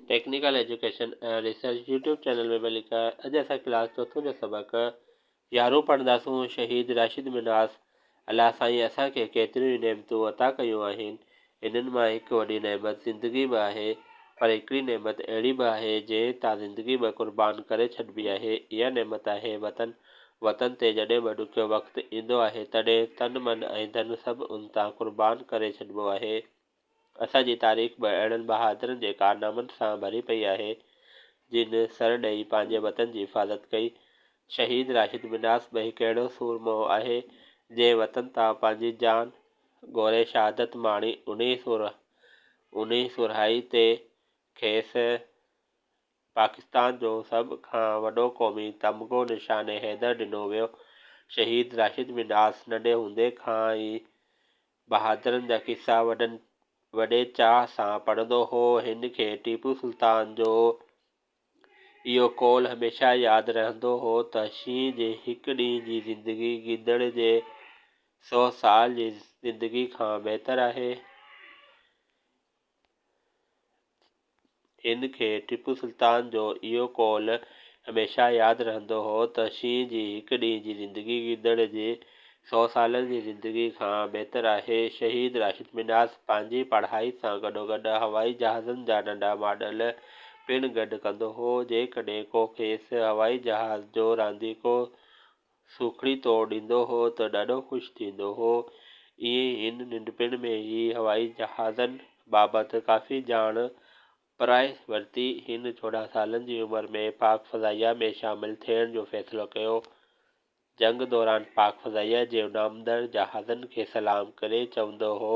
Technical education ۽ research YouTube channel ۾ به link آهي اڄ اسان ڪلاس چوٿون جو سبق يارهون پڙهنداسون شهيد راشد منهاس الله سائين اسان کي ڪيتريون ئي نعمتون عطا ڪيون آهن انهن مان هڪ وڏي نعمت زندگي به آهي پر هڪڙي نعمت اهڙي به آهي جنهن تان زندگي به قربان ڪري ڇڏبي آهي اها نعمت آهي وطن وطن تي جڏهن به ڏکيو وقت ايندو آهي تڏهن تن من ۽ ڌن سڀ ان تان قربان ڪري ڇڏبو آهي. اسان جي تاريخ به اهڙن بهادرن جي ڪارنامن سان ڀري پئي آهي، جن سر ڏئي پنهنجي وطن جي حفاظت ڪئي. شهيد راشد منهاس به هڪ اهڙو سورمو آهي، جنهن وطن تان پنهنجي جان گوري شهادت ماڻي، انهي سورهائي تي کيس پاڪستان جو سڀ کان وڏو قومي تمغو نشان حيدر ڏنو ويو. شهيد راشد منهاس ننڍي هوندي کان ئي بهادرن جا قصا وڏن وڏي چاهه سان پڙهندو هو. هن کي ٽيپو سلطان جو اهو قول هميشه ياد رهندو هو ته شينهن جي هڪ ڏينهن جي زندگي گيدڙ جي سو سال جي زندگي کان بهتر آهي. ان کي ٽيپو سلطان جو اهو قول هميشه ياد رهندو هو ته شينهن جي هڪ ڏينهن جي زندگي گدڙ جي سؤ سالن جي زندگي کان بهتر آهي. شهيد راشد منهاج پنهنجي پڙهائي سان گڏوگڏ هوائي جهازن جا ننڍا ماڊل پڻ گڏ ڪندو هو. جيڪڏهن ڪو کيس هوائي جهاز جو رانديڪو سوکڙي توڙ ڏيندو هو ته ڏاڍو خوش ٿيندو هو. ائين هن ننڍپڻ ۾ ئي هوائي جهازن بابت ڪافي ڄاڻ پرائي ورتي. هن چوڏهن سالن جي عمر ۾ پاڪ فضائيه ۾ شامل ٿيڻ جو فيصلو ڪيو. جنگ دوران پاڪ فضائيه جي اڏامندڙ جهازن کي سلام ڪري چوندو هو،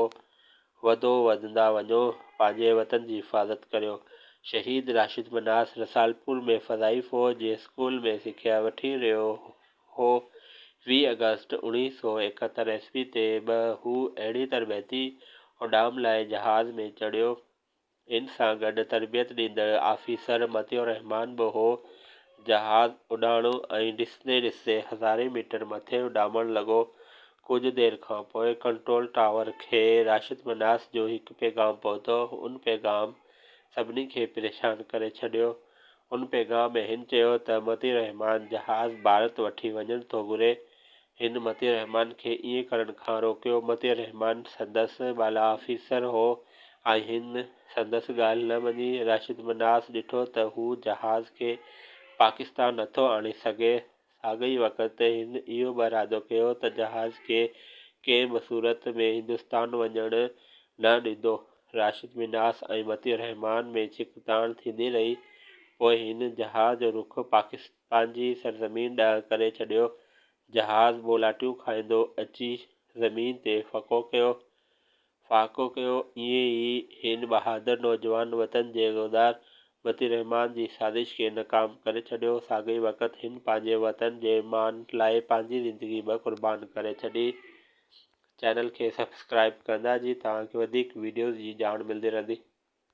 وڌو وڌندا وڃو پنهنجي وطن جي حفاظت ڪريو شهيد راشد منهاس رسالپور ۾ فضائي فوج جي اسڪول ۾ سکيا وٺي رهيو هو ويهه آگسٽ اوڻيهه سؤ ايڪهتر عيسوي تي به هو اهڙي تربيتي اڏام لاء جهاز ۾ چڙهيو ان سان گڏ تربيت ڏيندڙ آفيسر مطيع الرحمان به هو. جهاز اڏاڻو ۽ ڏسندي ڏسندي هزارين ميٽر مٿي اڏامڻ لڳو. ڪجهه دير کان پوء ڪنٽرول ٽاور کي راشد مناس جو هڪ پيغام پهتو. ان پيغام سڀني کي پريشان ڪري ڇڏيو. ان پيغام ۾ هن چيو ته مطيع الرحمان جهاز ڀارت وٺي وڃڻ ٿو گهري. هن مطيع الرحمان کي ائين ڪرڻ کان روڪيو. مطيع الرحمان سندس بالا آفيسر هو ۽ هن سندس ڳالهه نه مڃي. راشد منهاس ڏٺو ته هو جهاز کي پاڪستان نٿو آڻي سگهي. ساڳئي وقت هن اهو به ارادو ڪيو ته جهاز کي ڪنهن به صورت ۾ هندستان وڃڻ نه ڏيندو. راشد منهاس ۽ مطيع الرحمان ۾ ڇڪتاڻ ٿيندي رهي. پوء هن جهاز جو رخ پاڪستان. پنهنجي سرزمين ڏانهن ڪري ڇڏيو. جهاز ٻولاٽيون کائيندو اچي زمين تي ڦڪو ڪيو. ڦاڪو ڪيو. ائين ئي هن بهادر نوجوان وطن جي غدار مطيع الرحمان جي سازش کي ناڪام ڪري ڇڏيو. ساڳئي وقت هن پنهنجي وطن جي مان لاء پنهنجي زندگي به قربان ڪري ڇڏي. چينل کي سبسڪرائيب ڪندا جي توهان کي وڌيڪ وڊيوز جي ڄاڻ ملدي رهندي.